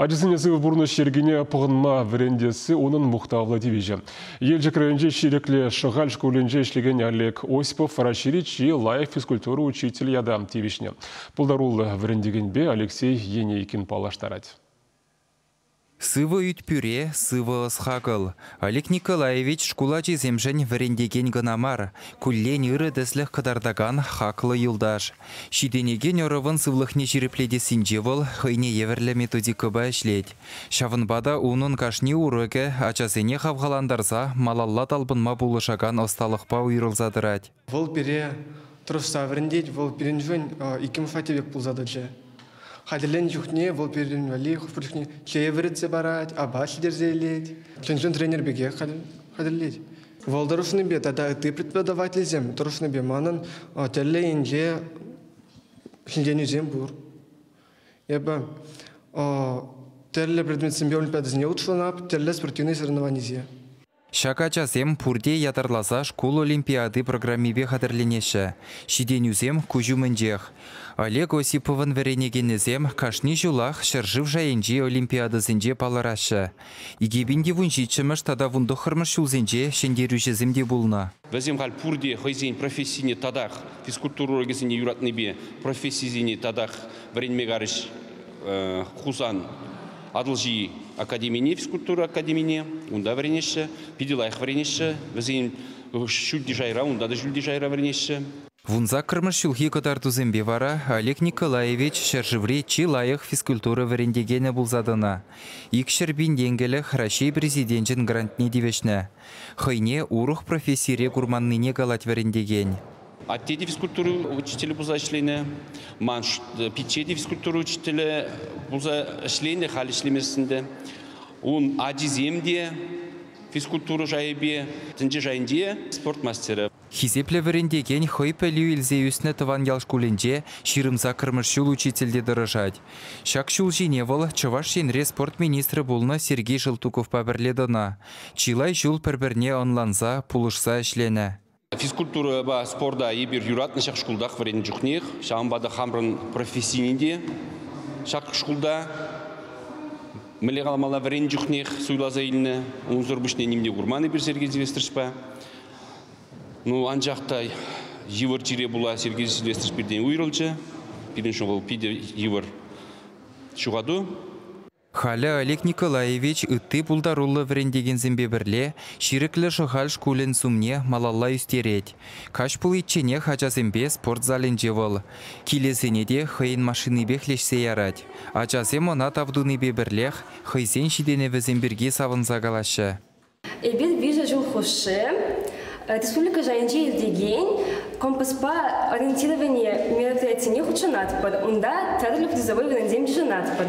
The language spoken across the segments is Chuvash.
Ачасене сывӑ пурнӑҫ йӗркине пӑхӑнма вӗрентесси унӑн мухтавлӑ тивӗҫӗ. Елчӗк районӗнчи Ҫирӗклӗ Шӑхаль шкулӗнче ӗҫлекен Олег Осипов Раҫҫейри чи лайӑх физкультура учитель ята тивӗҫнӗ. Пултаруллӑ вӗрентекенпе Алексей Енейкин паллаштарать. Сывӑ ӳт-пӳре, сывӑ ӑс-хакӑл. Олег Николаевич шкул ачисемшӗн вӗрентекен кӑна мар, куллен ырӑ тӗслӗх кӑтартакан хаклӑ юлташ. Ҫитӗнекен ӑрӑвӑн сывлӑхне ҫирӗплетессинче вӑл хӑйне евӗрлӗ методикӑпа ӗҫлет. Ҫавӑнпа та унӑн кашни урокӗ ачасене хавхалантарса малалла талпӑнма пулӑшакан ӑсталӑхпа уйрӑлса тӑрать. Вӑл пире тӑрӑшса вӗрентет, вӑл пирӗншӗн иккӗмӗш хваттер пек пулса тӑчӗ. Хатӗрленӗ чухне вӑл пирӗн валли хӑш-пӗр чухне чее вӗретсе парать, апат ҫитерсе илет, чӑн-чӑн тренер пекех хатӗрлет. Вӑл тӑрӑшнипе тата ытти преподавательсем тӑрӑшнипе манӑн тӗрлӗ енче ҫӗнтерӳсем пур. Эпӗ тӗрлӗ предметсемпе олимпиадӑсене хутшӑнап, тӗрлӗ спортивный соревнованисем. Ҫак ачасем пурте ятарласа шкул олимпиади программипе хатӗрленеҫҫӗ. Ҫитӗнӳсем куҫ умӗнчех. Олег Осиповӑн вӗренекенӗсем кашни ҫулах ҫӗршыв шайӗнчи олимпиадӑсенче палӑраҫҫӗ. Икӗ пин те вун ҫиччӗмӗш тата вун тӑххӑрмӗш ҫулсенче ҫӗнтерӳҫӗсем те пулнӑ. Вӗсем халь пурте хӑйсен профессине татах, физкультура урокӗсене юратнипе профессисене татах вӗренме карӗҫ. Хусан Атӑлҫи академине, физкультура академине, унта вӗренеҫҫӗ, питӗ лайӑх вӗренеҫҫӗ. Вӗсен ҫӳлти шайра, унта та ҫӳлти шайра вӗренеҫҫӗ. Вунсаккӑрмӗш ҫулхи кӑтартусемпе вара Олег Николаевич ҫӗршыври чи лайӑх физкультура вӗрентекенӗ пулса тӑнӑ. Икҫӗр пин тенкӗлӗх Раҫҫей Президенчӗн грантне тивӗҫнӗ. Хӑйне урӑх профессире курманнине калать вӗрентекен. Атте те физкультура учителӗ пулса ӗҫленӗ. Ман пичче те физкультура учителӗ пулса ӗҫленӗ, халь ӗҫлемест ӗнтӗ. Ун ачисем те физкультура шайӗпе, тӗнче шайӗнче спорт мастерӗ. Хисеплӗ вӗрентекен хӑй пӗлӳ илсе ӳснӗ тӑван ял шкулӗнче ҫирӗм саккӑрмӗш ҫул учительте тӑрӑшать. Ҫак ҫул ҫине вӑл Чӑваш Енре спорт министрӗ пулнӑ Сергей Желтуковпа пӗрле тӑнӑ. Чылай ҫул пӗр-пӗрне ӑнланса, пулӑшса ӗҫленӗ. Физкультурӑпа спорта эпир юратнӑ ҫак шкултах вӗреннӗ чухнех. Ҫавӑнпа та хамӑрӑн профессине те ҫак шкулта мӗнле каламалла вӗреннӗ чухнех суйласа илнӗ. Унсӑр пуҫне ним те курман эпир Сергей Сильвестровичпа. Ну, анчах та йывӑр чире пула Сергей Сильвестрович пиртен уйрӑлчӗ. Пирӗн ҫул вӑл питӗ йывӑр ҫухату. Халӗ Олег Николаевич ытти пултаруллӑ вӗрентекенсемпе пӗрле Ҫирӗклӗ Шӑхаль шкулӗн сумне малалла ӳстерет. Каҫ пуличченех ачасемпе спорт залӗнче вӑл килӗсене те хӑйӗн машинипех леҫсе ярать. Ачасем ӑна тав тунипе пӗрлех хӑйсен ҫитӗнӗвӗсем пирки савӑнса калаҫҫӗ. Эпир виҫӗ ҫул хушши республика шайӗнче иртекен компаспа ориентировани мероприятине хутшӑнатпӑр. Унта тӗрлӗ призовой вырӑнсем йышӑнатпӑр.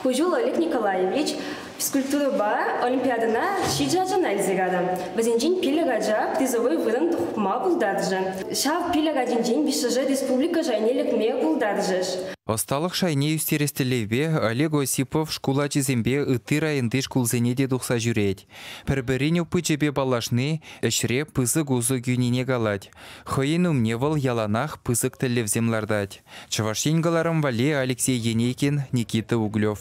Ку ҫул Олег Николаевич физкультурӑпа олимпиадӑна ҫичӗ ачана илсе кайрӗ. Вӗсенчен пилӗк ача призовой вырӑн хупма пултарчӗ. Ҫав пилӗк ачинчен виҫҫӗшӗ республика шайне лекме пултарчӗҫ. Ӑсталӑх шайне ӳстерес тӗллевпе Олег Осипов шкул ачисемпе ытти районти шкулсене те тухса ҫӳрет. Пӗр-пӗрин опычӗпе паллашни ӗҫре пысӑк усӑ кӳнине калать. Хӑйӗн умне вӑл яланах пысӑк тӗллевсем лартать. Чӑваш Ен кӑларӑм валли Алексей Енейкин, Никита Углев.